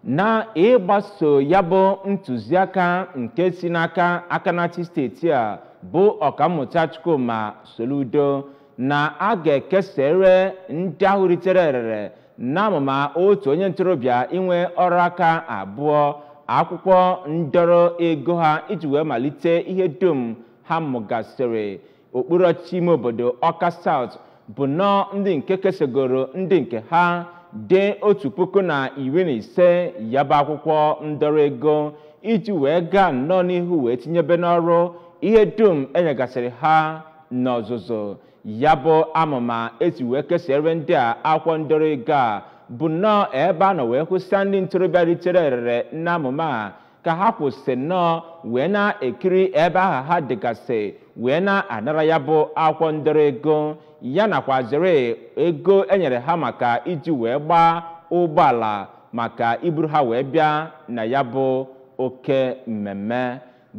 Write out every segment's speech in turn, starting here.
na ịgbaso ya bụ ntụziaka nke si n'aka aka na-achị steeti a bụ ọkammụta Chukwuma Soludo na a ga-ekesere ndị ahụ ritere erere n'amụma otu onye ntorobịa inwe ọrụ aka abụọ akwụkwọ ndọrọ ego ha iji wee malite ihe dum ha mụgasịrị okpuru ọchịchị ime obodo Ọka South bụ nnọọ ndị nke kesegoro ndị nke ha dị otu puku na iri na ise ya bụ akwụkwọ ndọrọ ego iji wee gaa nnọọ n'ihu wee tinyebe n'ọrụ ihe dum enyegasịrị ha n'ọzụzụ ya bụ amụma esi wee kesere ndị a akwụkwọ ndọrọ ego a bụ nnọọ ebe a nọ wee hụsịa ndị ntorobịa ritere erere n'amụma a ka ha kwụsị nnọọ wee na-ekiri ebe aha ha dịgasị wee na-anara ya bụ akwụkwọ ndọrọ ego ya nakwazịrị ego enyere ha maka iji wee gbaa ụgbọala maka iburu ha wee bịa na ya bụ oke mmemme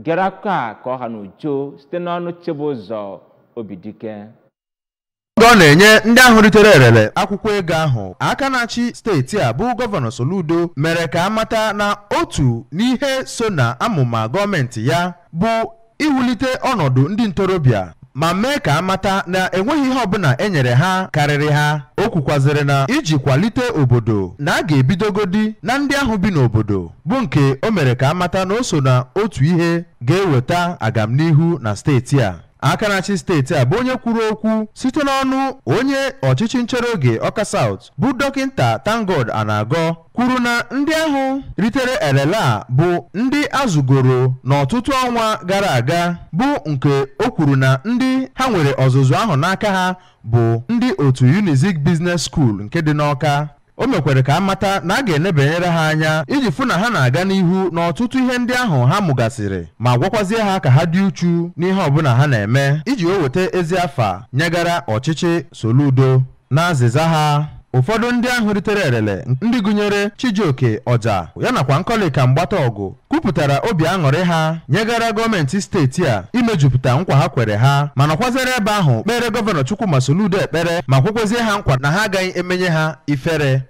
gere akụkọ a ka ọ ha n'uju site n'ọnụ Chibụzọ Obidike oge ọ na-enye ndị ahụ ritere erere akwụkwọ ego ahụ aka na-achị steeti a bụ gọvanọ Soludo mere ka a mata na otu n'ihe so na amụma gọọmenti ya bụ iwulite ọnọdụ ndị ntorobịa ma mee ka a mata na enweghị ihe ọbụla e nyere ha karịrị ha o kwukwazịrị na iji kwalite obodo na a ga-ebidogodi na ndị ahụ bi n'obodo bụ nke o mere ka a mata na o so na otu ihe ga-eweta agamnihu na steeti a aka na-achị steeti a bụ onye kwuru okwu site n'ọnụ onye ọchịchị nchere oge Ọka South bụ dọkịnta ThankGod Anagọ kwuru na ndị ahụ ritere elele a bụ ndị azụgoro n'ọtụtụ ọnwa gara aga bụ nke o kwuru na ndị ha nwere ọzụzụ ahụ n'aka ha bụ ndị otu Unizik Business School nke dị n'ọka O mekwere ka a mata na a ga-enebanyere ha anya iji fụ na ha na-aga n'ihu n'ọtụtụ ihe ndị ahụ ha mụgasịrị ma gwakwazie ha ka ha dị uchu n'ihe ọbụla ha na-eme iji wee weta ezi afa nyegara ọchịchị Soludo. N'azịza ha, ụfọdụ ndị ahụ ritere erele ndị gụnyere Chijioke Ọja ya nakwa Nkọlịka Mgbata Ọgụ kwupụtara obi aṅụrị ha nyegara gọọmenti steeti a imejupụta nkwa ha kwere ha ma nọkwazere ebe ahụ kpeere gọvanọ Chukwuma Soludo ekpere ma kwekwezie ha nkwa na ha agaghị emenye ha ifere